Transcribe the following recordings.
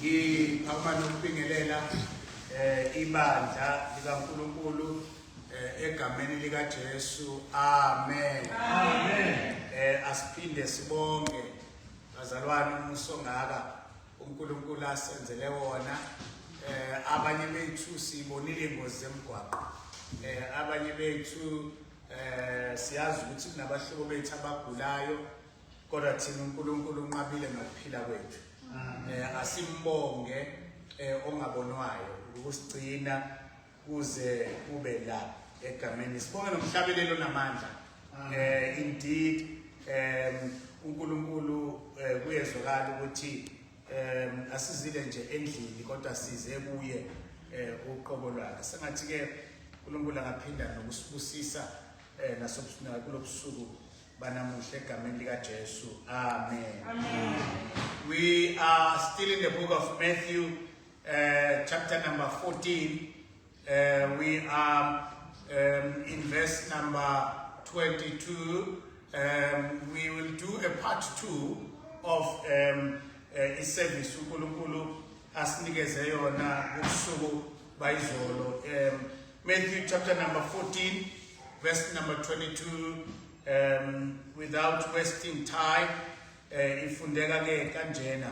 ngiphakuma nokubingelela eh ibandla likaNkuluNkulu eh, egameni likaJesu amen amen eh asiphinde sibonge bazalwane umuso ngaka uNkulunkulu asenzele wona eh abanye bethu sibonile ingozi zemgwaqo eh abanye bethu Eh siyazi ukuthi kunabahlobo bethu abagulayo kodwa thina uNkulunkulu unqabile ngokuphila kwethu. Mm. Eh asimbonge eh ongabonwayo ukusigcina kuze kube la egameni sibonge nomhlabelelo namandla. Mm. Eh indeed eh uNkulunkulu eh, kuyezwakala ukuthi um asizile nje endlini kodwa size kuye um uqobo lwakhe sengathi-ke unkulunkulu angaphinda nokusibusisa um nasokulo busuku banamuhle egameni likajesu amen, amen. we are still in the book of matthew uh, chapter number 14 Uh, we are um, in verse number 22. Um, we will do a part two of um, uh, iservice uNkulunkulu asinikeze yona ubusuku bayizolo. Um, Matthew chapter number 14 verse number 22 um, without wasting time uh, ifundeka ke kanjena.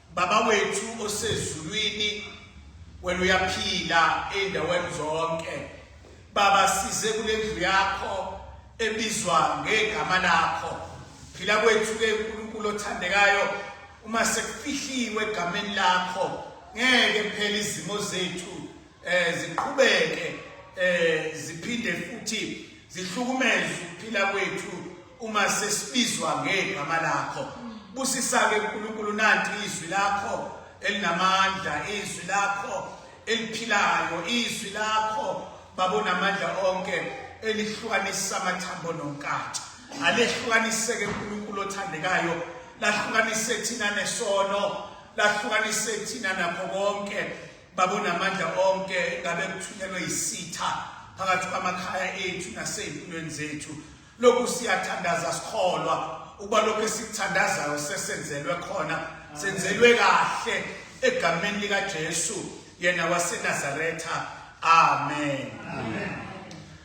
Baba wethu osezulwini wena uyaphila ezindaweni zonke baba size kulendlu yakho ebizwa ngegama lakho phila kwethu ke uNkulunkulu othandekayo uma sekufihliwe egameni lakho ngeke phela izimo zethu eh ziqhubeke eh ziphinde futhi zihlukumeze ukuphila kwethu uma sesibizwa ngegama lakho busisake uNkulunkulu nanti izwi lakho elinamandla izwi lakho eliphilayo izwi lakho babona amandla onke elihlukanisa amathambo nonkathi alehlukaniseke uNkulunkulu othandekayo lahlukanise thina nesono lahlukanise thina nakho konke Baba unamandla onke ngabe kuthunyelwe isitha phakathi kwamakhaya ethu nasey'mpilweni zethu lokhu siyathandaza sikholwa ukuba lokhu esikuthandazayo sesenzelwe khona senzelwe kahle egameni likaJesu yena waseNazaretha amen, amen.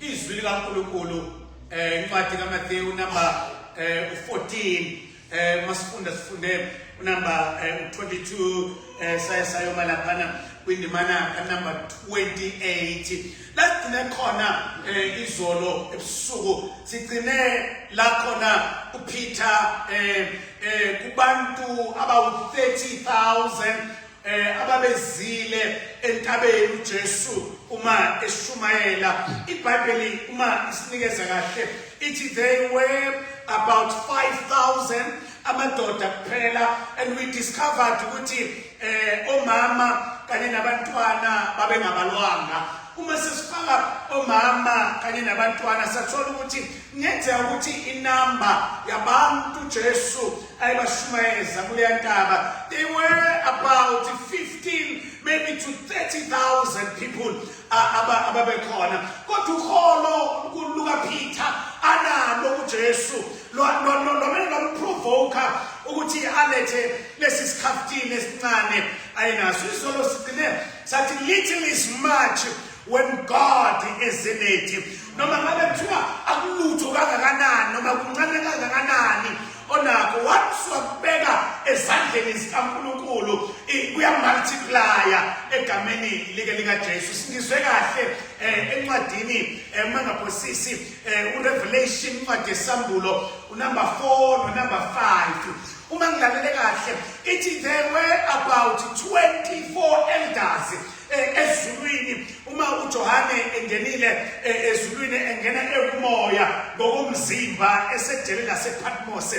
izwi likaNkulunkulu eh incwadi kaMathewu number eh u14 eh masifunda sifunde unumber eh, 22 eh saye sayoma laphana kwindimana kanumber 28 lasigcine khona eh izolo ebusuku sigcine la khona uPeter eh eh kubantu abawu 30000 eh ababezile entabeni uJesu uma eshumayela iBhayibheli uma isinikeza kahle ithi they were about 5000 amadoda kuphela and we discovered ukuthi eh omama kanye nabantwana babengabalwanga uma sesifaka omama kanye nabantwana sathola ukuthi ngenzeka ukuthi inamba yabantu Jesu Ay bashumayele zakuleya ntaba. They were about 15 maybe to 30,000 people ababekhona. Kodwa uholo luka Peter analo uJesu lo lomele lomprovoka ukuthi alethe lesi sikhaftini esincane ayinaso. Isolo sigcine sathi little is much when God is in it noma ngabe kuthiwa akulutho kangakanani noma kuncane kangakanani onakho once wakubeka ezandleni zikaNkulunkulu kuyamultiplya egameni like likaJesu singizwe kahle eh, encwadini eh, mangaphosisi eh, uRevelation incwadi yesambulo unumber 4 nonumber 5 uma ngilalele kahle ithi there were about 24 elders eh, ezulwini uma uJohane engenile eh, ezulwini engena ekumoya ngokomzimba esedele lasePatmos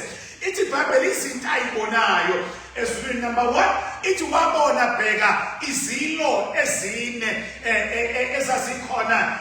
ithi iBhayibheli izinto ayibonayo ezulwini number 1 ithi wabona bheka izilo ezine eh, eh, eh, ezazikhona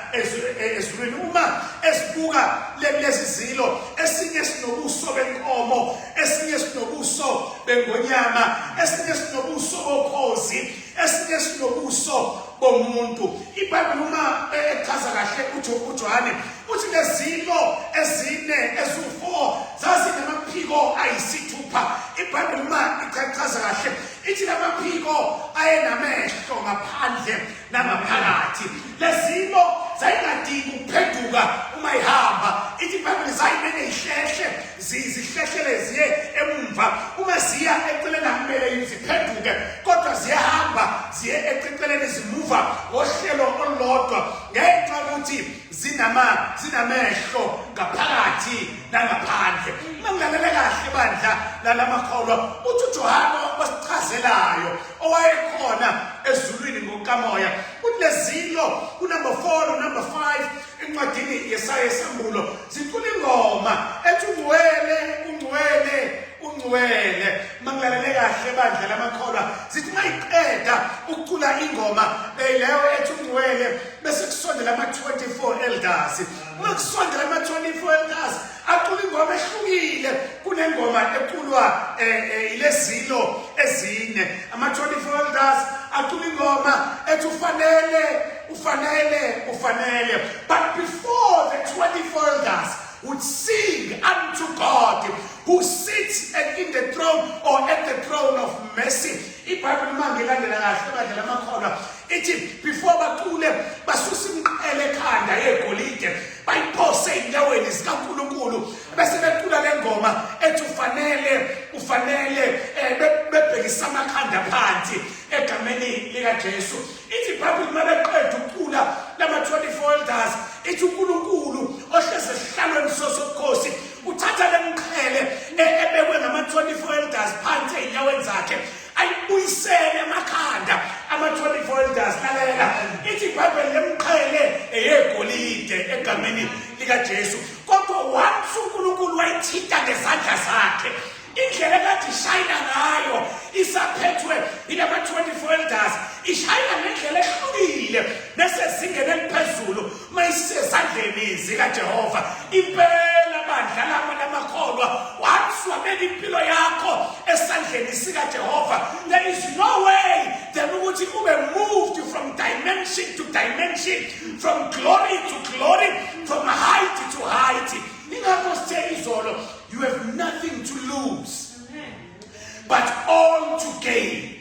ezulwini uma esibuka lezi zilo esinye sinobuso benkomo esinye sinobuso bengonyama esinye sinobuso bokhozi esinye sinobuso bomuntu ibhayibheli uma echaza kahle ujohane uthi lezilo ezine eziwu-four zazinamaphiko ayisithupha ibhayibheli uma ichachaza kahle ithi lamaphiko ayenamehlo ngaphandle nangaphakathi lezilo zayingadingi ukuphenduka uma ihamba ithi ibhayibheli zayimene ihlehle zihlehlele ziye emumva uma ziya eceleni akumele ziphenduke kodwa ziyahamba ziye eceleni zimuva ngohlelo olulodwa ngenxa yokuthi zinama zinamehlo ngaphakathi nangaphandle uma ngilalele kahle bandla lalamakholwa uthi uJohane wasichazelayo owayekhona ezulwini ngokamoya uthi lezilo kunumber 4 no number 5 encwadini yesaya esambulo zicula ingoma ethi ungcwele ungcwele ungcwele mangilalele kahle bandla lamakholwa zithi mayiqeda ukucula ingoma beyileyo ethi ungcwele bese kusondela ama-24 elders uma kusondela ama-24 elders acula ingoma ehlukile kunengoma eculwa eh, eh, ilezilo ezine ama-24 elders acula ingoma ethi ufanele ufanele ufanele but before the 24 elders would sing unto God who sits at, in the throne or at the throne of mercy ibhayibhile uma ngilandela kahle badlela amakholwa ithi before bacule basusa imiqele ekhanda yegolide bayiphose ezinyaweni zikaNkulunkulu bese becula le ngoma ethi ufanele ufanele eh, bebhekisa amakhanda phansi egameni likaJesu ithi iBhayibheli uma beqeda ukucula lama-24 elders ithi uNkulunkulu ohlezi esihlalweni sosokhosi uthatha le mqhele e-, ebekwe ngama-24 elders phansi ezinyaweni zakhe ayibuyisele amakhanda ama-24 elders lalela ithi ibhayibheli lemqhele eyegolide egameni likajesu kodwa once unkulunkulu wayithinta ngezandla zakhe indlela kade ishayina ngayo isaphethwe yilama-24 elders ishayina ngendlela ehlukile nesezingeni eliphezulu mayisezandleni zikaJehova impela bandla lama lamakholwa wamswabela impilo yakho esandleni sikaJehova there is no way then ukuthi ube moved from dimension to dimension from glory to glory from height to height ingakho sithe izolo you have nothing to lose but all to gain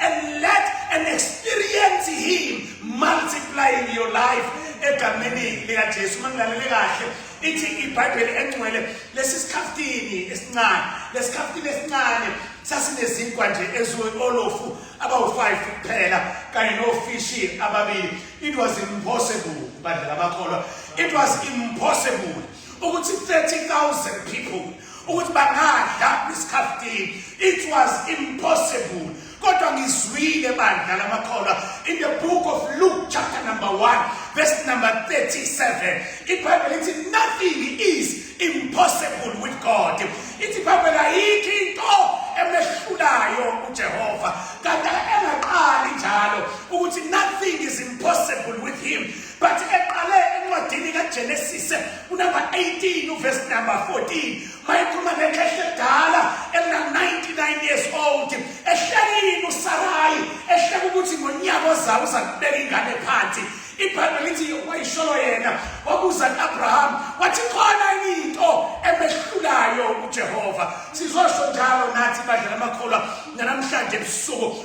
and let and experience him multiplying your life egameni likaJesu uma ngilalele kahle ithi ibhayibheli engcwele lesi sikhaftini esincane lesikhaftini esincane sasinezinkwa nje eziwolofu abawu-five kuphela kanye nofishi ababili it was impossible bandla lamakholwa it was impossible ukuthi 30000 people ukuthi bangadla isikhaftini it was impossible kodwa ngizwile bandla lamakholwa in the book of luke chapter number 1 verse number 37 ibhayibheli lithi nothing is impossible with god ithi ibhayibheli ayikho into emehlulayo ujehova kanti engaqali njalo ukuthi nothing is impossible with him But eqale encwadini kaGenesis unumber 18 uverse number 14 mayikhuluma ngekhehla edala elina 99 years old ehlekini uSarayi ehleka ukuthi ngonyaka ozayo uza kubeka ingane phansi ibhayibheli lithi wayisholo yena wabuza kuAbraham wathi khona into emehlulayo uJehova sizosho njalo nathi badlala amakholwa namhlanje ebusuku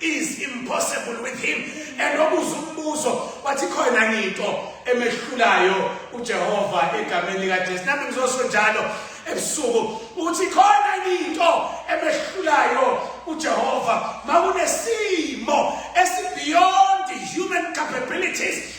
is impossible with him and obuza umbuzo wathi khona ngito emehlulayo uJehova egameni lika Jesu nami ngizosho njalo ebusuku uthi khona ngito emehlulayo uJehova makunesimo esi beyond human capabilities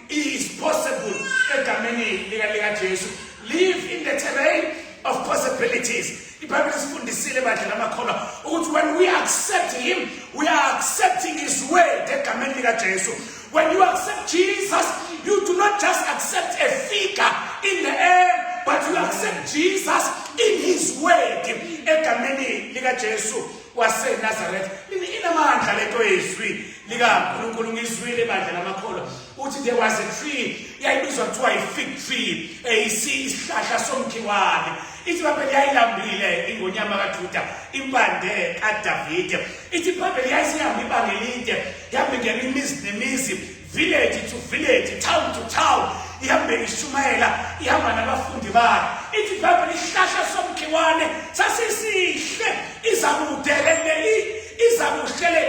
is possible egameni lika lika Jesu live in the terrain of possibilities ibhayibheli sifundisile bandla lamakholwa ukuthi when we accept him we are accepting his way egameni lika Jesu when you accept Jesus you do not just accept a figure in the air but you accept Jesus in his way egameni lika Jesu waseNazaretha inamandla lento yezwi likaNkulunkulu ngizwile bandla lamakholwa uthi there was a tree yayibizwa kuthiwa i-fig tree eyisi eh, isihlahla somkhiwane ithi ibhayibheli yayilambile ingonyama kajuda impande kadavide ithi ibhayibheli yayisihamba ibanga elide yabingena imizi nemizi village to village town to town ihambe ishumayela ihamba nabafundi bayo ithi ibhayibheli isihlahla somkhiwane sasisihle iza kude le iza kuhle le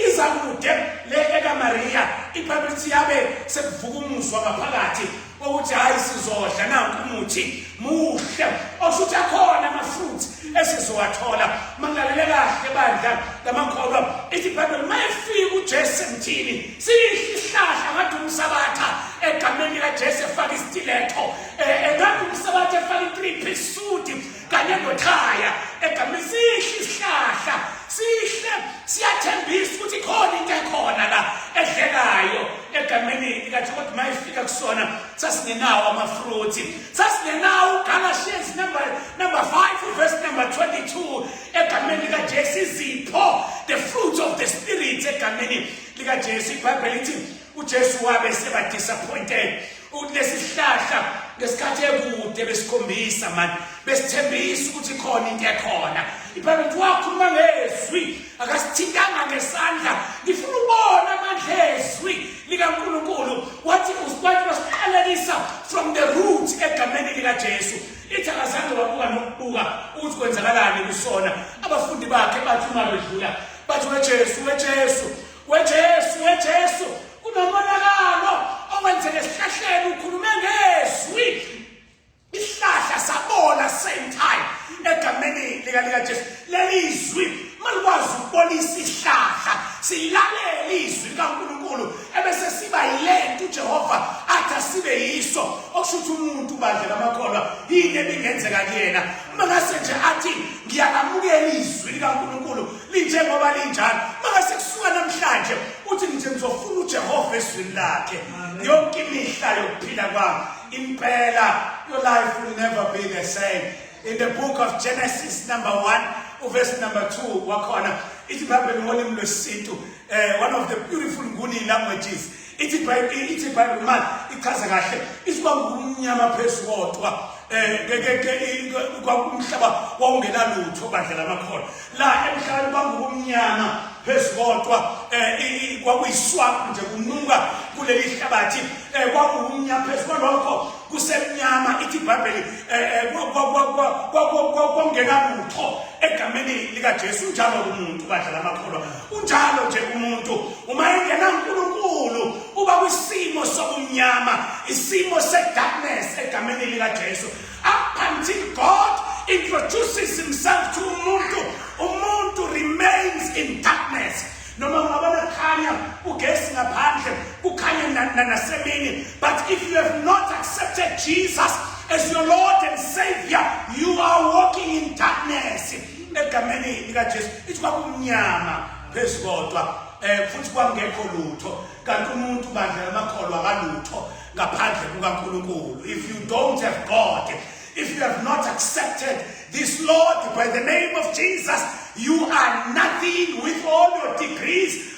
iza kude le ekamariya ibhayibheli lithi yabe sekuvuka umuzwa ngaphakathi ukuthi hayi sizodla nanku umuthi muhle okushuthi akhona amafruit esizowathola mangilalele kahle bandla lamakholwa ithi ibhayibheli uma efika ujesu emthini siyihle isihlahla ngathi umsabatha egameni likajesu efaka isitiletho um eh, engathi eh, umsabatha efaka i-three piece suit kanye nothaya egameni sihle isihlahla sihle siyathembisa ukuthi khona into ekhona la edlekayo egameni likathi kodwa uma ifika kusona sasingenawo amafruthi sasingenawo ugalatians number number 5 verse number 22 egameni likajesu izipho the fruits of the spirit egameni likajesu ibhayibheli ithi uJesu wabe seba disappointed ukuthi lesihlahla ngesikhathi ekude besikhombisa mani besithembisa ukuthi khona into ekhona ibhayibheli ukuthi wakhuluma ngezwi akasithintanga ngesandla ngifuna ubona amandla ezwi likankulunkulu wathi usibantu basiqalelisa from the root egameni likajesu ithi akazange wabuka nokubuka ukuthi kwenzakalani kusona abafundi bakhe bathi uma bedlula bathi wejesu wejesu wejesu wejesu kunomonakalo okwenzeke esihlahleni ukhulume ngezwi isihlahla sabola same time egameni lika lika Jesu leli izwi malikwazi ukubonisa isihlahla silalele izwi likaNkuluNkulu ebese siba yilento uJehova athi asibe yiso okusho ukuthi umuntu bandla lamakholwa yini ebingenzeka kuyena uma ngase nje athi ngiyalamukela izwi likaNkuluNkulu linjengoba linjalo makase kusuka namhlanje uthi ngithi ngizofuna uJehova ezwini lakhe yonke imihla yokuphila kwami impela your life will never be the same in the book of Genesis number 1 uverse number 2 wakhona ithi ibhayibheli ngolimi lwesintu eh one of the beautiful nguni languages ithi ibhayibhile ithi ibhayibhile manje ichaza kahle isibanga kumnyama phezu kodwa um kwakumhlaba wawungenalutho bandla lamakhona la emhlabeni kwakukumnyama phezu kodwa um kwakuyiswakho nje kunuka kuleli hlabathi um eh, kwakuwumnyama phezu kwalokho kusemnyama ithi ibhayibheli um kwangenalutho egameni likajesu njalo kumuntu badla lamakholwa Kunjalo nje umuntu uma engena uNkulunkulu uba kwisimo sobumnyama, isimo sedarkness egameni lika Jesu. Up until God introduces himself to umuntu, umuntu remains in darkness. Noma ungaba nakhanya ugesi ngaphandle, kukhanye nasemini, but if you have not accepted Jesus as your Lord and Savior, you are walking in darkness. egameni likaJesu ithi kwakumnyama phezu kodwa eh futhi kwangekho lutho kanti umuntu bandla lamakholwa akalutho ngaphandle kukaNkulunkulu if you don't have God if you have not accepted this Lord by the name of Jesus you are nothing with all your degrees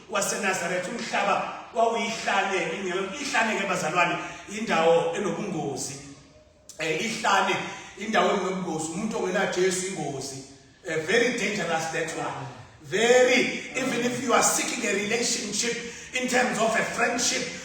waseNazaretha umhlaba wawuyihlane ihlane ke bazalwane indawo enobungozi eh ihlane indawo enobungozi umuntu ongena Jesu ingozi eh, very dangerous that one very even if you are seeking a relationship in terms of a friendship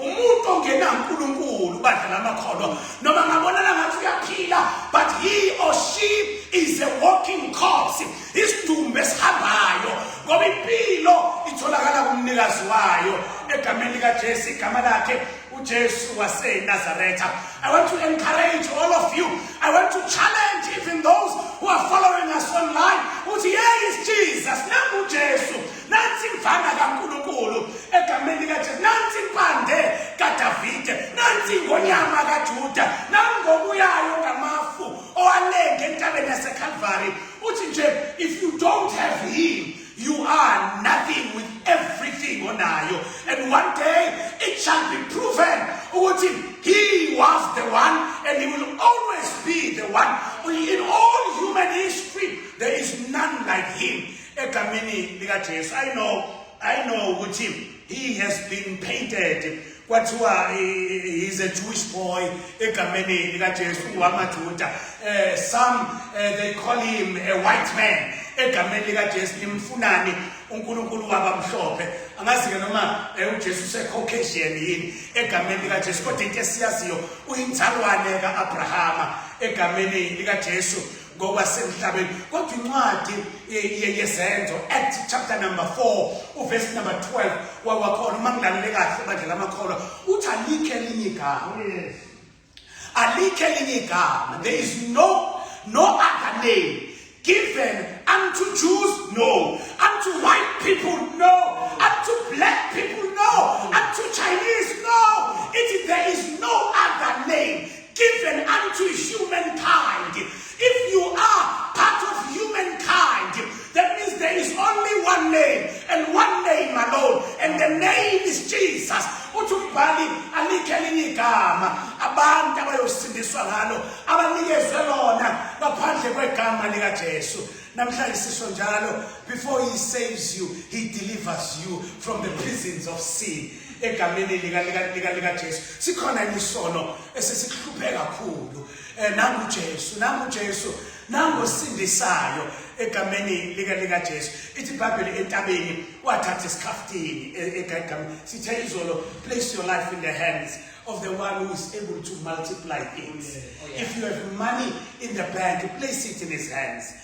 umuntu ongenankulunkulu badlala amakhono noma ngabonana ngathi uyaphila but he or she is a walking corpse isidumbu esihambayo ngoba impilo itholakala kumnikazi wayo egameni likajesu igama lakhe ujesu wasenazaretha i want to encourage all of you i want to challenge even those who are following us online uthi yeyi is jesus nangujesu nansi imvana kaNkulunkulu egameni likaJesu nansi impande kaDavide nansi ingonyama kaJuda nangokuyayo ngamafu owalenge entabeni yaseKalvari uthi nje if you don't have him you are nothing with everything onayo and one day it shall be proven ukuthi he was the one and he will always be the one in all human history there is none like him egameni likaJesu i know i know ukuthi he has been painted kwathiwa is a Jewish boy egameni likaJesu ungwamaJuda eh some eh, they call him a white man egameni likaJesu nimfunani uNkulunkulu wabamhlophe angazi ke noma eh, uJesu useCaucasian yini egameni lika Jesu kodwa into esiyaziyo uyinzalwane kaAbrahama egameni lika Jesu ngokwasemhlabeni kodwa incwadi yezenzo act chapter number 4 uverse number 12 wawakhona uma ngilalele kahle bandla lamakholwa uthi alikho elinye igama alikho elinye igama there is no no other name given unto Jews no unto white people no unto black people no unto Chinese no it there is no other name given unto humankind. If you are part of humankind, that means there is only one name and one name alone, and the name is Jesus. uthi umbhali alikhe elinye igama abantu abayosindiswa ngalo abanikezwe lona ngaphandle kwegama likajesu namhlanje sisho njalo before he saves you he delivers you from the prisons of sin egameni likaJesu sikhona imisono esesihluphe kakhulu eh, nangu Jesu nangu Jesu nangu sindisayo egameni lika lika Jesu ithi iBhayibheli entabeni wathatha isikhafutini e, egameni sithe izolo place your life in the hands of the one who is able to multiply things oh, yeah. Oh, yeah. if you have money in the bank place it in his hands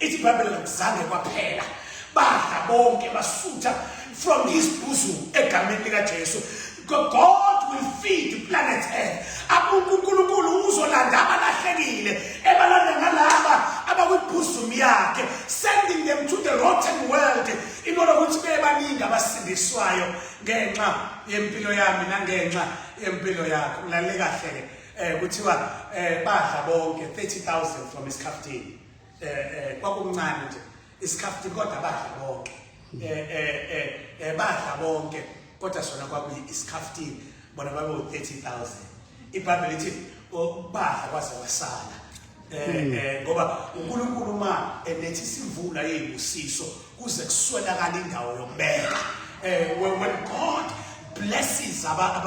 ithi ibhayibheli kakuzange kwaphela badla bonke basutha from his bosom egameni likajesu god will feed planet earth unkulunkulu uzolanda abalahlekile ebalanda ngalaba abakwibhuzumu yakhe sending them to the rotten world in order ukuthi bebaningi abasindiswayo ngenxa yempilo yami nangenxa yempilo yakho ulalele kahle-ke um kuthiwa um badla bonke 30 000 from isikhaftini eh eh kwakumncane nje isikhafuthi kodwa badla bonke eh eh eh, eh badla bonke kodwa sona kwakuyi isikhafuthi bona babe u 30000 ibhayibheli lithi badla kwaze wasala eh, hmm. eh ngoba uNkulunkulu uma enethi sivula yeyibusiso kuze kuswelakala indawo yokubeka eh when God blesses abantu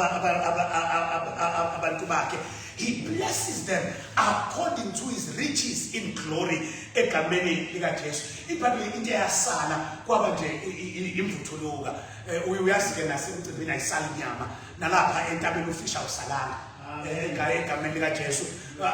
bakhe he blesses them according to his riches in glory egameni likaJesu ibhayibheli into eyasala kwaba nje imvuthuluka eh, uyazi ke nasemcimbini ayisali inyama nalapha entabeni ufisha usalanga egaye egameni likajesu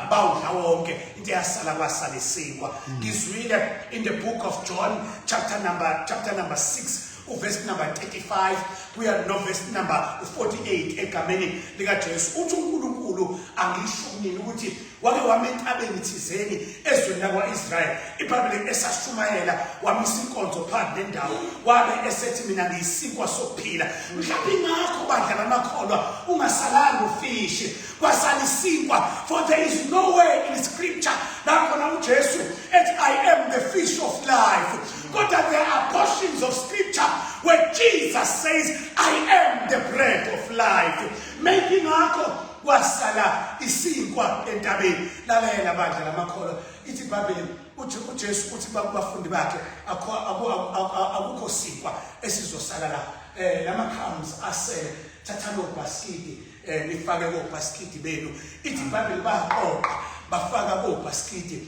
bawudla wonke into eyasala kwasala isinkwa hmm. ngizwile in the book of john chapter number chapter number 6 uvesi number 35 kuya novesi number 48 egameni likajesu uthi unkulunkulu angisho kunini ukuthi wake wama entabeni thizeni ezweni lakwa-israyeli ibhayibhile esashumayela wamisa inkonzo phambi nendawo wabe esethi mina ngiyisinkwa sokuphila mhlawumbe ingakho bandla lamakholwa ungasalanga ufishi kwasala isinkwa for there is no way in scripture lakhona ujesu ethi i am the fish of life kodwa there are portions of scripture where jesus says i am the bread of life maybe ngakho kwasala isinkwa entabeni lalayela bandla lamakholwa ithi ibhayibheli uthi ujesu uthi bakubafundi bakhe akukho sinkwa esizosala la um lama-crumbs asele thathani obhasikidi um nifake kobhasikidi benu ithi ibhayibheli baqoqa bafaka kobhasikidi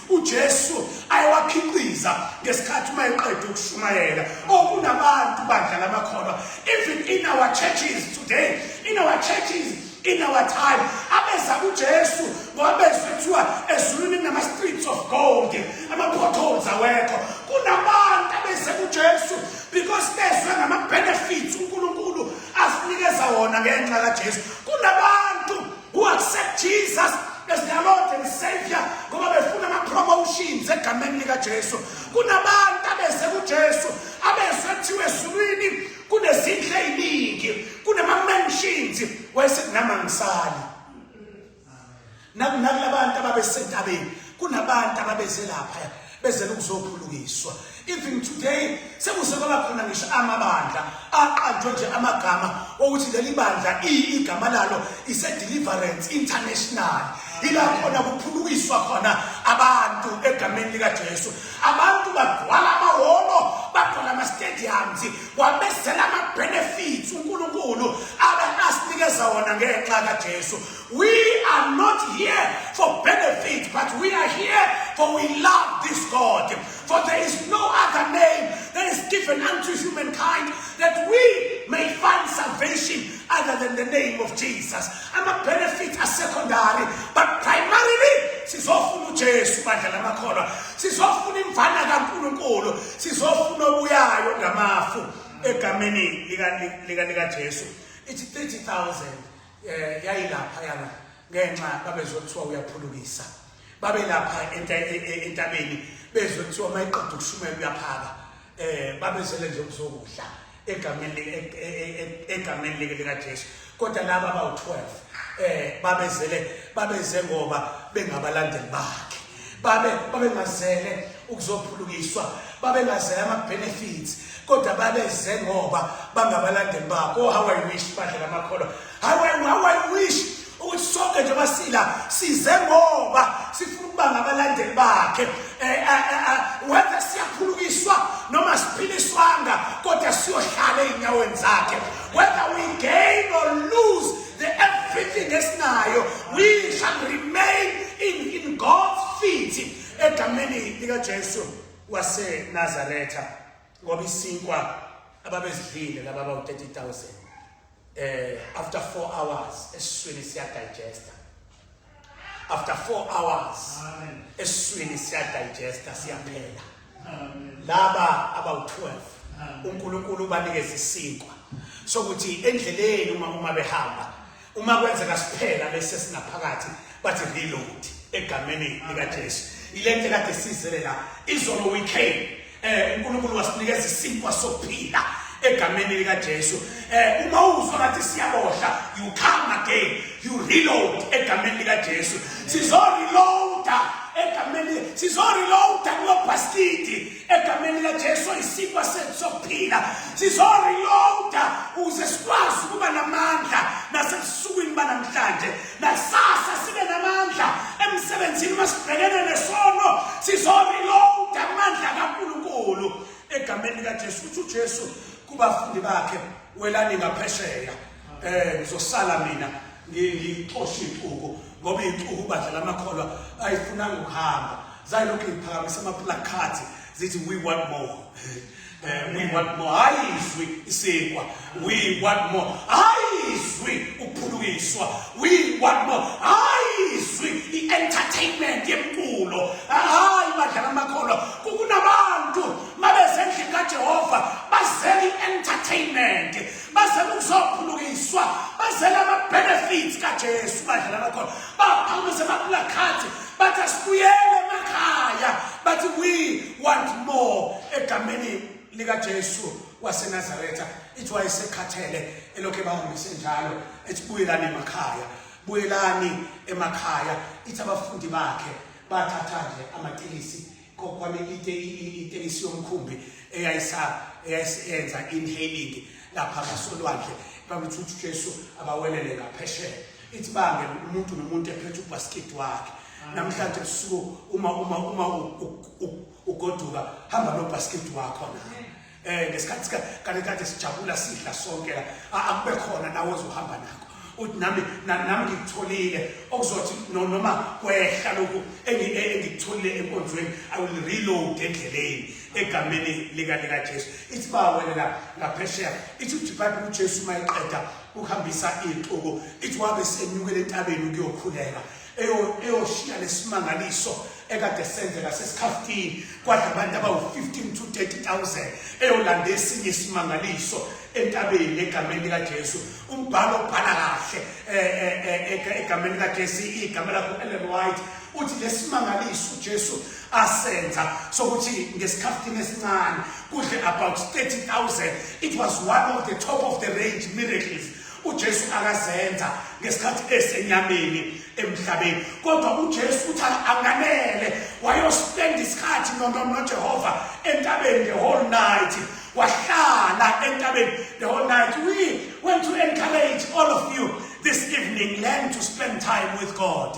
uJesu ayewakhiqiza ngesikhathi uma eqeda ukushumayela okunabantu bandla lamakholwa even in our churches today in our churches in our time abeza kuJesu ngoba bezwe kuthiwa ezulwini kunama streets of gold ama potholes awekho kunabantu abeze kuJesu because bezwe ngama benefits uNkulunkulu asinikeza wona ngenxa kaJesu kunabantu who accept Jesus as their Lord and Savior ngoba befuna ama-promotions egameni likaJesu kunabantu abeze kuJesu abezwe kuthiwa ezulwini kunezindlu ey'ningi kunama-mansions wayesethi nami angisali nakulabantu ababesentabeni kunabantu ababeze lapha bezela ukuzophulukiswa even today sekuse kwaba khona ngisho amabandla aqanjwe nje amagama okuthi leli bandla igama lalo ise-deliverance international ila khona kuphulukiswa khona abantu egameni likajesu abantu bagcwala amahholo bagcwala ama-stadiums wabezela ama-benefits unkulunkulu abe asinikeza wona ngenxa kajesu We are not here for benefit, but we are here for we love this God. For there is no other name that is given unto humankind that we may find salvation other than the name of Jesus. I'm a benefit as secondary, but primarily sizofuna uJesu bandla lamakholwa. Sizofuna imvana kaNkulunkulu, sizofuna obuyayo ngamafu egameni lika lika lika Jesu. It's 30,000 eh yayilapha yana ngenxa babezothiwa uyaphulukisa babelapha e, e, entabeni bezwe kuthiwa mayiqeda ukushumela uyaphaka eh babezele nje ukuzokudla egameni e, egameni like lika Jesu kodwa laba bawu12 eh babezele babeze ngoba bengabalandeli bakhe babe babengazele ukuzophulukiswa babengazele ama-benefits kodwa babeze ngoba bangabalandeli bakho oh, how i wish badlela amakholwa how i, how I wish ukuthi sonke nje basila size ngoba sifuna ukuba ngabalandeli bakhe eh, eh, eh, whether siyaphulukiswa noma siphiliswanga kodwa siyohlala ey'nyaweni zakhe whether we gain or lose The everything esinayo we shall remain in, in God's feet egameni likaJesu waseNazaretha ngoba isinkwa ababezidlile laba bawu 30000 eh after 4 hours esiswini siya digester after 4 hours eswini siya digesta siyaphela laba abawu 12 uNkulunkulu ubanikeza isinkwa sokuthi endleleni uma uma behamba uma kwenzeka siphela bese sinaphakathi bathi reload egameni likaJesu ilento kade sizele la izolo we came Eh uNkulunkulu wasinikeza isinkwa sokuphila egameni lika Jesu. Eh uma uzwa ngathi siyabohla, you come again, you reload egameni lika Jesu. Sizo reload egameni sizo reload kulobhaskidi egameni lika Jesu isinkwa sethu sokuphila. Sizo reload uze sikwazi kuba namandla nasebusukwini banamhlanje. Nakusasa sibe namandla emsebenzini uma sibhekene nesono sizoreload amandla kaNkulunkulu egameni likaJesu. Uthi uJesu kubafundi bakhe welani ngaphesheya eh ngizosala mina ngixoshe ixuku ngoba ixuku badlala amakholwa ayifunanga ukuhamba zayilokhu iphakamisa amaplakhathi zithi we want more Eh, we want more hayi izwi isikwa we want more hayi izwi ukuphulukiswa we want more hayi izwi i-entertainment yemculo hayi badlala amakholwa kukunabantu mabezendlini kajehova bazela i-entertainment bazela ukuzophulukiswa bazela ama-benefits kajesu badlala amakholwa baphakamisa amaplakhathi But asibuyele emakhaya. But we want more egameni lika Jesu waseNazaretha. Ithi wayesekhathele elokhe bahambise njalo. Ethi buyelani emakhaya. Buyelani emakhaya. Ithi abafundi bakhe bathatha nje amatilisi kokwami itekisi yomkhumbi eyayisenza inhaling lapha ngasolwandle babuthuthi ujesu abawelele ngaphesheya ithi bange umuntu nomuntu ephethe ubhaskidi wakhe namhlanje busuku uma uma uma ugoduka hamba nobhaskidi wakho na eh ngesikhathi kade kade sijabula sidla sonke la akube khona nawe ozohamba nakho uthi nami nami ngikutholile okuzothi noma kwehla lokhu e, engikutholile enkonzweni i will reload endleleni egameni lika lika Jesu ithi ba wena la ngaphesheya ithi uJibhayibheli uJesu mayiqeda ukuhambisa ixuku ithi wabe senyukele entabeni ukuyokhuleka eyoshiya lesimangaliso ekade senzeka sesikhafutini kwadla abantu abawu-15 to 30000 eyolanda esinye isimangaliso entabeni egameni likajesu umbhalo obhala kahle eh, eh, eh, egameni likajesu igama lakho ellen white uthi lesimangaliso ujesu asenza sokuthi ngesikhathini esincane kudle about 30000 it was one of the top of the range miracles uJesu akazenza ngesikhathi esenyameni emhlabeni kodwa uJesu uthi anganele wayospend isikhathi noJehova entabeni the whole night wahlala entabeni the whole night we want to encourage all of you this evening learn to spend time with God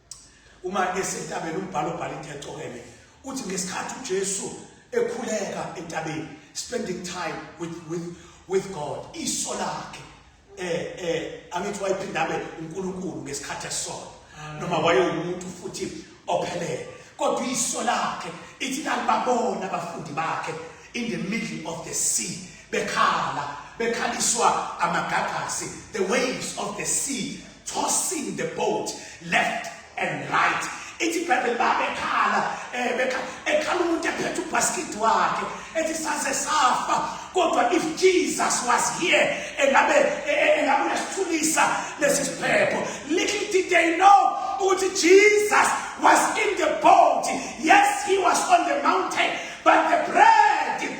Uma esentabeni umbhalo obhala into ecokeme uthi ngesikhathi uJesu ekhuleka entabeni spending time with with with God iso lakhe eh eh angithi wayiphindabe uNkulunkulu ngesikhathi esona noma wayewumuntu futhi ophelele kodwa iso lakhe ithi lalibabona abafundi bakhe in the middle of the sea bekhala bekhaliswa amagagasi the waves of the sea tossing the boat left and right ithi ibhayibheli babekhala um ekhala umuntu ephethe ubhaskidi wakhe ethi saze safa kodwa if jesus was here engabe e, e, engabe uyasithulisa lesi siphepho little did they know ukuthi jesus was in the boat yes he was on the mountain but the bread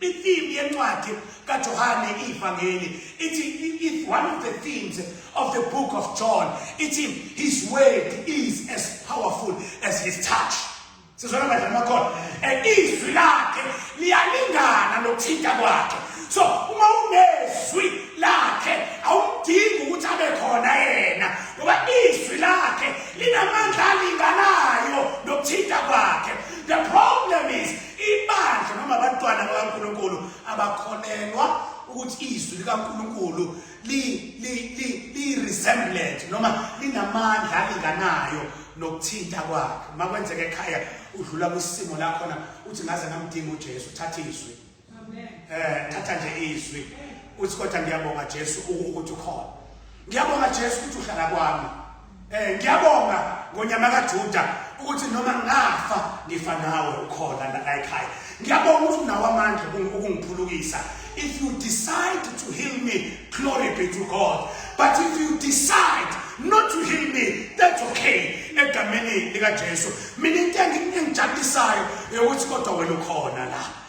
Ithimu yencwadi kaJohane ivangeli ithi if one of the themes of the book of John ithi his word is as powerful as his touch. Sizona badla amakhona. And izwi lakhe liyalingana nokuthinta kwakhe. So uma unezwi lakhe awudingi ukuthi abe khona yena ngoba izwi lakhe linamandla alinganayo nokuthinta kwakhe. The problem is Ibandla noma abantwana bakaNkulunkulu abakholelwa ukuthi izwi likaNkulunkulu li li li li resemblant noma linamandla alinganayo nokuthinta kwakhe makwenzeka ekhaya udlula kwisimo la khona uthi ngaze ngamdinga uJesu thatha izwi amen eh thatha nje izwi uthi kodwa ngiyabonga Jesu ukuthi ukhona Ngiyabonga Jesu ukuthi uhlala kwami. Eh ngiyabonga ngonyama kaJuda ukuthi noma ngafa ngifa nawe ukhona la ekhaya. Ngiyabonga ukuthi unawo amandla ukungiphulukisa. If you decide to heal me, glory be to God. But if you decide not to heal me, that's okay. Egameni likaJesu. Mina into engijabulisayo ukuthi kodwa wena ukhona la.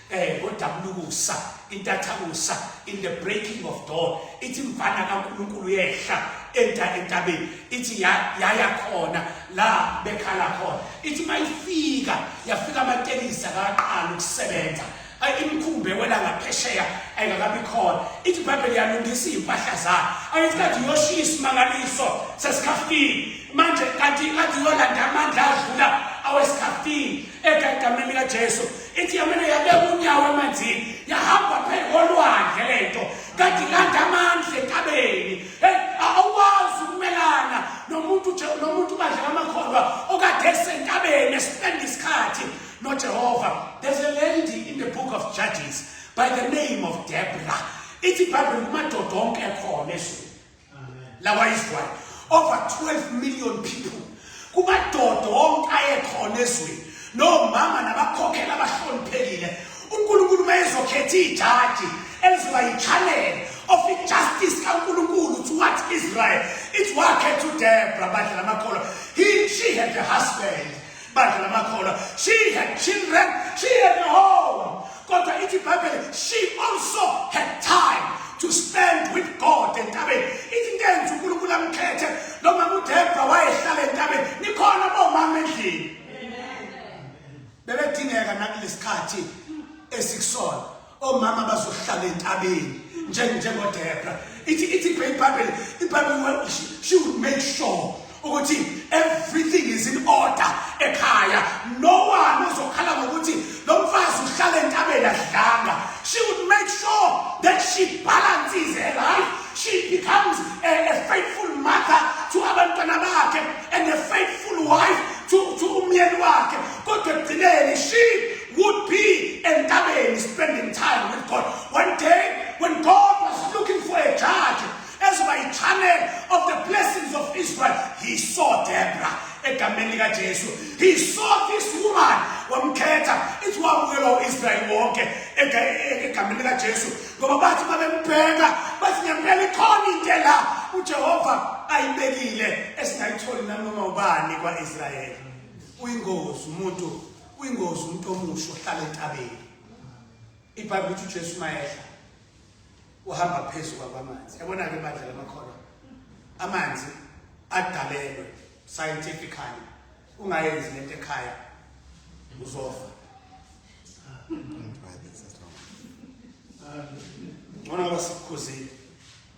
eh ngodabulukusa intathakusa in the breaking of dawn ithi mfana kaNkulunkulu yehla enta entabeni ithi yaya khona la bekhala khona ithi mayifika yafika amatekisi akaqala ukusebenza imkhumbe wena ngaphesheya ayingakabi khona ithi ibhayibheli yalungisa iy'mpahla zayo ayithi kade uyoshiya isimangaliso sesikhafini manje kanti kade uyolanda amandla adlula awesikhaftini egagameni likajesu ithi yamane yabeka unyawo emanzini yahamba phela olwandle le nto kanti ilanda amandla entabeni awukwazi ukumelana nomuntu nomuntu ubadlela amakholwa okade esentabeni esipenda isikhathi nojehova there's a lady in the book of judges by the name of debra ithi ibhayibheli kumadoda onke ekhona ezweni lakwa-israyeli over 12 million people kumadoda wonke ayekhona ezweni nomama nabakhokhela abahloniphekile unkulunkulu uma ezokhetha ijaji elizoba yichanele of ijustice kankulunkulu to what israel it's wakhetha udebra badla lamakholwa he she had a husband bandla lamakholwa she had children she had a home kodwa ithi ibhayibheli she also had time to spend with god entabeni ithi into enza unkulunkulu amkhethe lo mama udebra wayehlala entabeni nikhona bomama endlini bebedingeka nakulesikhathi esikusona omama bazohlala entabeni njengodebra ithi ithi ibhayibhayibheli ibhayibheli she would make sure ukuthi everything is in order ekhaya no one uzokhala ngokuthi lo mfazi uhlala entabeni adlanga she would make sure that she balances her life she becomes a, a faithful mother to abantwana bakhe and a faithful wife to, to umyeni wakhe kodwa ekugcineni she would be entabeni spending time with God. One day, when God was looking for a judge, as by channel of the blessings of Israel, he saw Deborah. egameni likajesu he saw this woman wamkhetha ithi wamukela u-israyeli wonke egameni likajesu ngoba bathi babembheka bathi ngempela ikhona into la ujehova ayibekile esingayitholi nanoma ubani kwa-israyeli uyingozi umuntu Uyingozi umuntu omusha ohlala entabeni. IBhayibheli uthi uJesu mayehla uhamba phezu kwamanzi. Yabona ke bandla lamakholwa. Amanzi adalelwe scientifically. Ungayenzi lento ekhaya uzofa. Ngona ngoba sikukhuzile.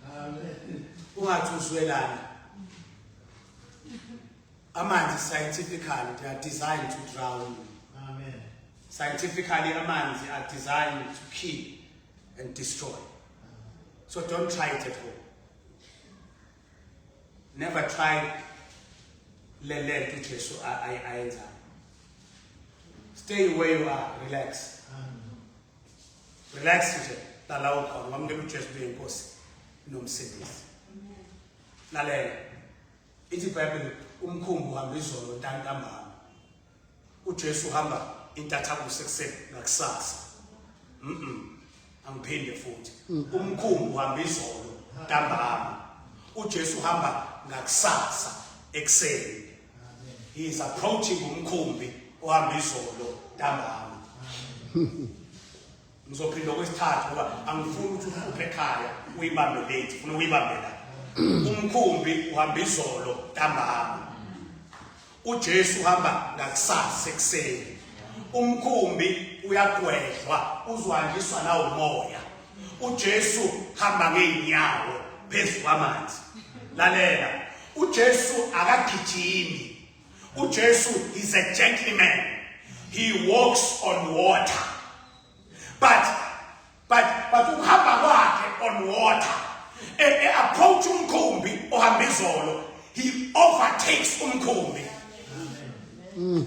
Amen. Ungathi uzwelana. Amanzi scientifically they are designed to drown you. Amen. Scientifically amanzi are designed to kill and destroy. So don't try it at home. Never try le lento uJesu ayenzayo. Stay where you are, relax. Relax nje, lala ukhona, wamukela uJesu kuyinkosi nomsindisi. Lalela. Ithi Bible umkhumbi uhamba izolo ntantambama. UJesu uhamba intathakusa sekuseni nakusasa. Mhm. Angiphinde futhi. Mm. Umkhumbi uhamba izolo ntambama. UJesu uhamba ngakusasa ekuseni. He is approaching umkhumbi ohamba izolo ntambama. Ngizophinda okwesithathu ngoba angifuni ukuthi uhluphe ekhaya uyibambe late funa uyibambe la. Umkhumbi uhamba izolo ntambama. UJesu uhamba ngakusasa ekuseni. Umkhumbi uyagwedlwa uzwanjiswa nawo umoya. UJesu hamba ngeenyawo phezu kwamanzi. Lalela. UJesu akagijimi uJesu is a gentleman he walks on water but but but ukuhamba kwakhe on water e, e approach umkhumbi ohamba izolo he overtakes umkhumbi mm.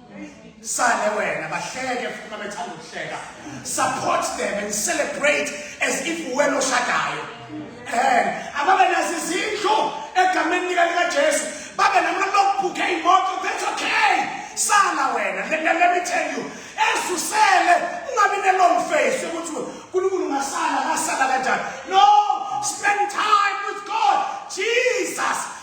sale wena bahleke futhi uma bethanda ukuhleka support them and celebrate as if wena oshadayo um ababe nazo izindlu egameni lika likajesu babe namalokubhukhe iy'moto that's okay sala wena let, let, let me tell you ezusele ungabi ne-long face yokuthi unkulunkulu ungasala ngasala kanjani no spend time with god jesus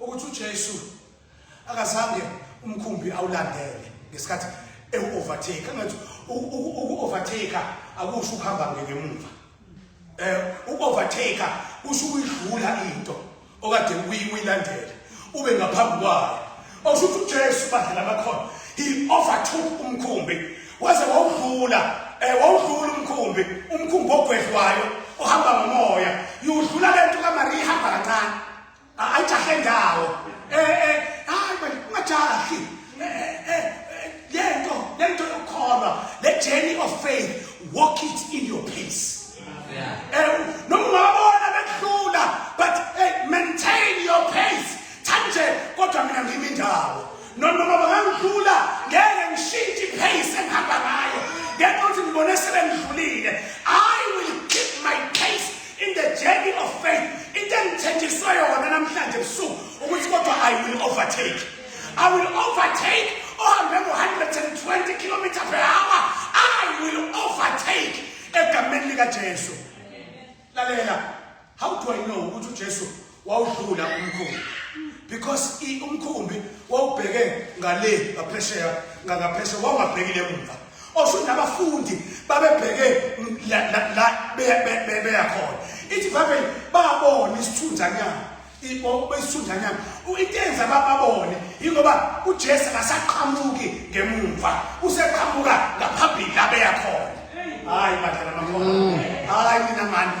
ukuthi uJesu akazange umkhumbi awulandele ngesikhathi ewu-overtake angathi uku-overtake akusho ukuhamba ngemuva eh uku-overtake kusho ukuyidlula into okade uyilandela ube ngaphambi kwayo awusho ukuthi uJesu badlela bakhona he overtook umkhumbi waze wawudlula eh wawudlula umkhumbi umkhumbi ogwedlwayo ohamba ngomoya yudlula lento kaMariya ihamba kancane ayijahe ndawo eh eh hayi manje ungajahi lento lento yokukholwa le journey of faith walk it in your pace eh noma ungabona bekuhlula but hey maintain your pace thanje kodwa mina ngimi ndawo noma bangangihlula ngeke ngishintshe pace engihamba ngayo ngenxa ukuthi ngibone sebengidlulile i will keep my pace in the journey of faith into engithenjiswe yona namhlanje ebusuku ukuthi kodwa i will overtake i will overtake ohambe ngo-120 kilometer per hour i will overtake egameni likajesu lalela how do i know ukuthi ujesu wawudlula umkhumbi because umkhumbi wawubheke ngale ngaphesheya ngaphesheya wawungabhekile emuva osho nabafundi babebheke la beya khona ithi babe babona isithunzanyana besithunzanyana into enza bababone yingoba ujesu akasaqhamuki ngemumva useqhamuka ngaphambili la beya khona hayi badala bakhona mm. hayi mina mani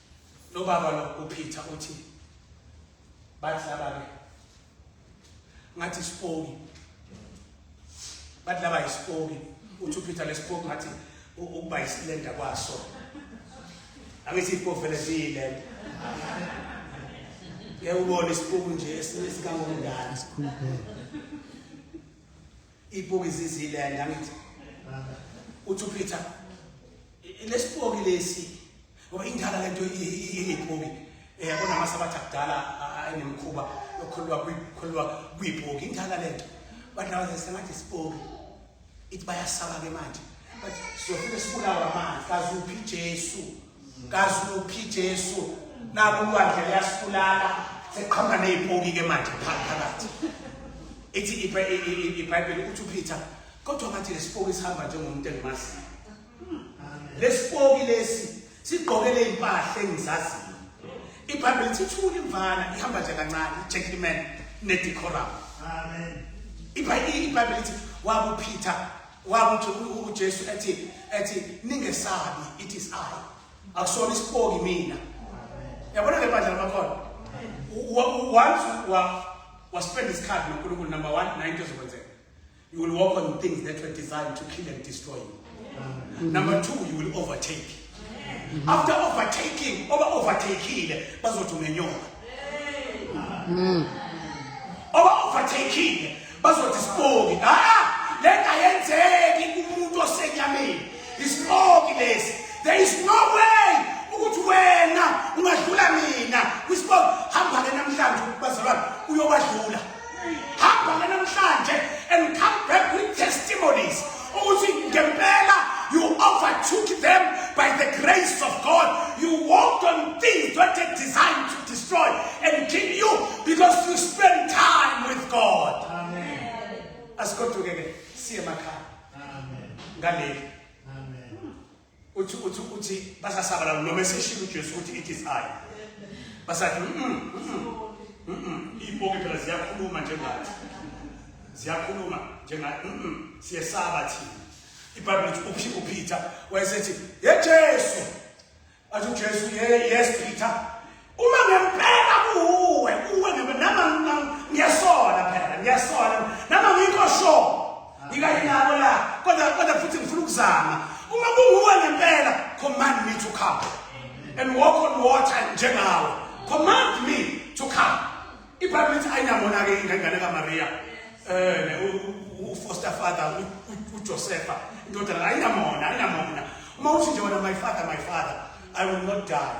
Lobaba lo uPeter uthi bathi laba ke ngathi isipoki bathi laba isipoki uthi uPeter lesipoki ngathi ukuba isilenda kwaso angithi ipoki vele ziyilenda ngeke ubone isipoki nje esingangomndala Ipoki ziziland angithi. Uthi Peter lesipoki lesi ngoba indala lento iyipoki eh yabona masabatha kudala ayinemkhuba yokholwa kuyikholwa kuyipoki indala lento but now they sengathi isipoki ithi bayasaba ke manje but siyofike sibulawa manje kazuphi Jesu Kazuphi Jesu naku lwandle liyasibulala seqhamuka nezipoki ke manje phakathi. Ithi iBhayibheli uthi uPeter kodwa ngathi lesipoki sihamba njengomuntu engimaziyo. Lesipoki lesi sigqokele impahla engizaziyo. IBhayibheli ithi thula imvana ihamba nje kancane, gentleman nedecorum. Amen. IBhayibheli ithi wabuPeter Wakuthi uJesu ethi ethi ningesabi it is I. Akusona isipoki mina. Yabona ke bandla lamakhono. Once wa wa spend this card noNkulunkulu number 1 nine ezokwenzeka. You will walk on things that were designed to kill and destroy you. Number 2 you will overtake. Mm-hmm. After overtaking, over overtakile bazothi ungenyoka. Mm. Over overtakile bazothi sipoki. Ah, lenta yenzeki kumuntu osenyameni. Isipoki lesi. There is no way ukuthi wena ungadlula mina kwisipoki. Hamba ke namhlanje bazalwane uyobadlula. hamba namhlanje and come back with testimonies ukuthi ngempela you overtook them by the grace of God you walked on things that are designed to destroy and kill you because you spend time with God amen asigoduke ke siye emakhaya amen ngaleli uthi uthi uthi basasabalala noma eseshilo uJesu ukuthi it is I basathi mhm mhm ipoke phela ziyakhuluma njengathi ziyakhuluma njengathi mhm siyesaba thina iBhayibheli lithi uphi uPeter wayesethi yeJesu athi uJesu ye yes Peter Uma ngempela kuwe, kuwe ngempela nama ngiyasola phela, ngiyasola. Nama ngikho sho. Ngikayi nabo la, kodwa kodwa futhi ngifuna ukuzama. Uma kunguwe ngempela, command me to come and walk on water njengawe. Command me to come. IBhayibheli lithi ayinamona ke ingane kaMaria. Eh, ufoster father uJosefa, indodana ayinamona, ayinamona. Uma uthi nje wena my father, my father, I will not die.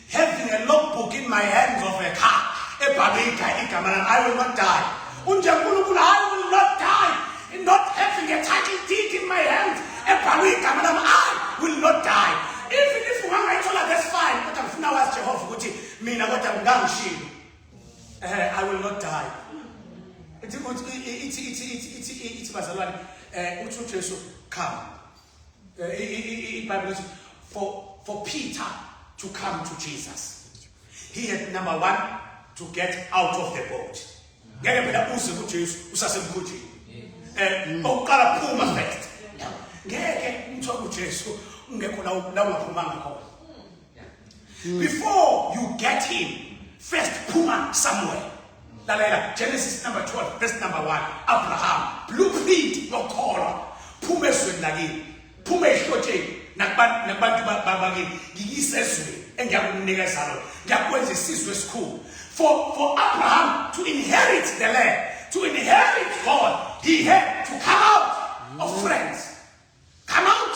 having a logbook in my hands of a car ebhalwe igama lami i will not die unje nkulunkulu i will not die in not having a title deed in my hands ebhalwe igama lami i will not die even if ungangayithola that's fine kodwa ngifuna wazi jehova ukuthi mina kodwa ngangishilo eh i will not die ithi ithi ithi ithi ithi bazalwane eh uthi uJesu come iBhayibheli eh, for for Peter to come to Jesus he had number 1 to get out of the boat ngeke phela uze kuJesu usasemkhunjini eh oqala phuma first ngeke ngithola uJesu ungekho la ungaphumanga khona before you get him first phuma somewhere lalela genesis number 12 verse number 1 abraham blueprint yokholwa phuma ezweni lakini phuma ehlotsheni nakubantu babakini ngiyise ezweni engiyakunika ezalo ngiyakwenza isizwe esikhulu for, for abraham to inherit the land to inherit god he had to come out of friends come out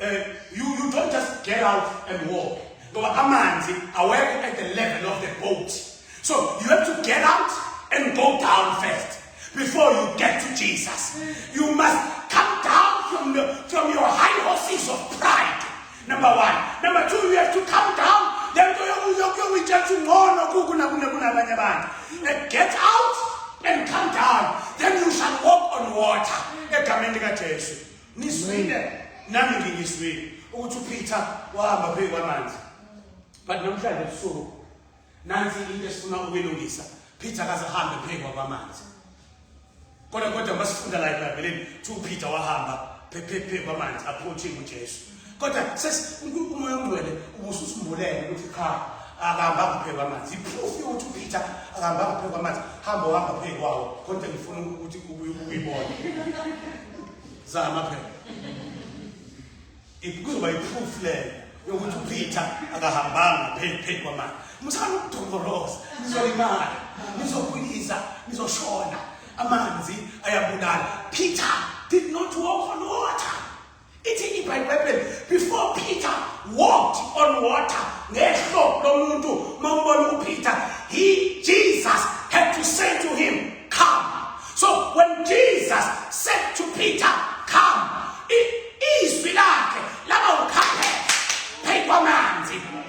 eh, you, you don't just get out and walk ngoba amanzi awekho at the level of the boat so you have to get out and go down first before you get to jesus you must come down from, the, from your high horses of pride number one number two you have to come down le nto yokuyokuyoyitshela ukuthi ngcono kukunabanye abantu and get out and come down then you shall walk on water egameni likajesu Nizwile nami ngingizwile ukuthi uPeter wahamba phezu kwamanzi. But namhlanje ebusuku nansi into esifuna ukuyilungisa. Peter akaze ahambe phezu kwamanzi. Kodwa kodwa masifunda la eBhayibhelini, uPeter wahamba phephephe kwamanzi approaching uJesu. kodwa umoya ongcwele ubususimbulele ukuthi cha akahambanga phezu kwamanzi iproof yokuthi upeter akahambanga phezu kwamanzi hamba uhamba phezu kwawo kodwa ngifuna ukuthi uyibone zama phela ikuzoba iproof leyo yokuthi upeter akahambanga phezu kwamanzi musana ukudokoroza nizolimala nizokhulisa nizoshona amanzi ayabulala peter did not walk on water Ithini iBhayibheli? Before Peter walked on water, ngehlo lomuntu mawubona uPeter, he Jesus had to say to him, "Come." So when Jesus said to Peter, "Come," izwi lakhe laba ukhaphe phezu kwamanzi.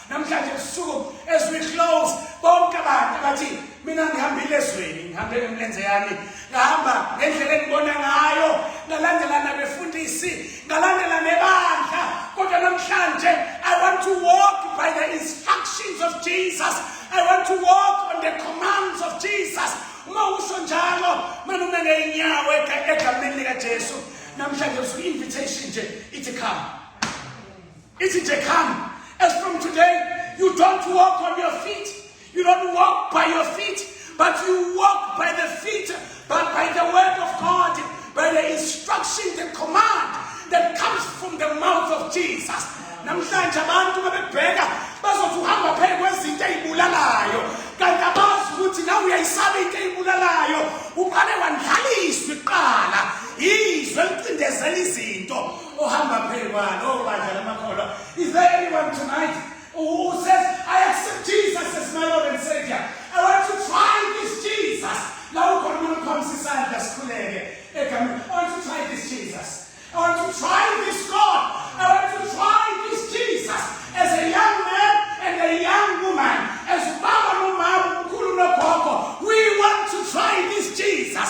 namhlanje ebusuku as we close bonke abantu abathi mina ngihambile ezweni ngihambe ngemlenze yami ngahamba ngendlela engibona ngayo ngalandela nabefundisi ngalandela nebandla kodwa namhlanje i want to walk by the instructions of jesus i want to walk on the commands of jesus uma usho njalo mina uma ngeyinyawo egameni likajesu namhlanje usuku invitation nje ithi come Ithi nje come as from today you don't walk on your feet you don't walk by your feet but you walk by the feet but by the word of God by the instruction the command that comes from the mouth of Jesus namhlanje abantu babebheka bazothi uhamba phezu kwezinto ezibulalayo kanti abazi ukuthi nawe uyayisaba into ezibulalayo uqale wandlaliswa iqala izwe licindezela izinto ohamba pheli kwalo obandla lamakholwa is there anyone tonight who says i accept jesus as my lord and savior i want to try this jesus la ukhona umuntu uphambisa isandla sikhuleke egameni i want to try this jesus i want to try this god i want to try this jesus as a young man and a young woman as ubaba nomama umkhulu nogogo we want to try this jesus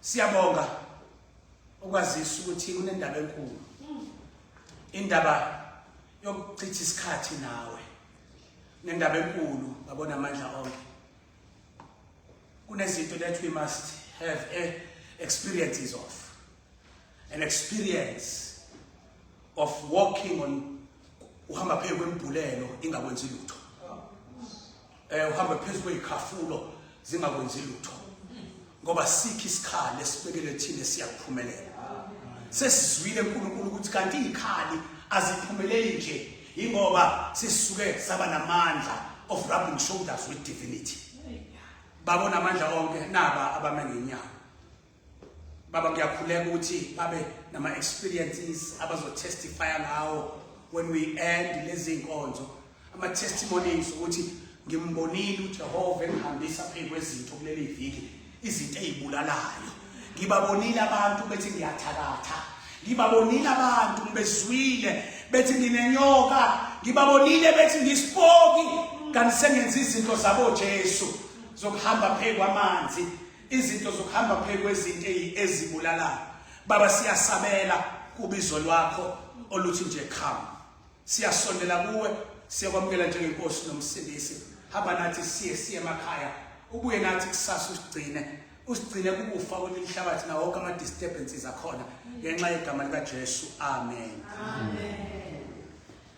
Siyabonga ukwazisa ukuthi kunendaba enkulu. Indaba yokuchitha isikhathi nawe. Nendaba enkulu babona amandla onke. Kunezinto that we must have a eh, experiences of. an experience of walking on uhamba phezu kwembulelo ingakwenzi lutho eh uhamba phezu kwezikhafulo zingakwenzi lutho ngoba sikhi isikhali esibekele thina siyakuphumelela sesizwile uNkulunkulu ukuthi kanti izikhali aziphumeleli nje ingoba sisuke saba namandla of rubbing shoulders with divinity babona amandla onke naba abamengenyawo baba ngiyakhuleka ukuthi babe nama experiences abazotestify ngawo when we end lezi nkonzo ama testimonies ukuthi ngimbonile uJehova engihambisa phezu kwezinto kuleli viki izinto ezibulalayo ngibabonile abantu bethi ngiyathakatha ngibabonile abantu ngibezwile bethi nginenyoka ngibabonile bethi ngisipoki kanti sengenza izinto zabo Jesu zokuhamba phezu kwamanzi izinto zokuhamba phezu kwezinto ezibulalayo baba siyasabela kubizo lwakho oluthi nje khama siyasondela kuwe siyakwamukela njengenkosi nomsindisi hamba nathi siye siye emakhaya ubuye nathi kusasa usigcine usigcine kukufa kwenye inhlabathi nawo wonke ama-disturbances akhona ngenxa yegama likajesu amen, amen.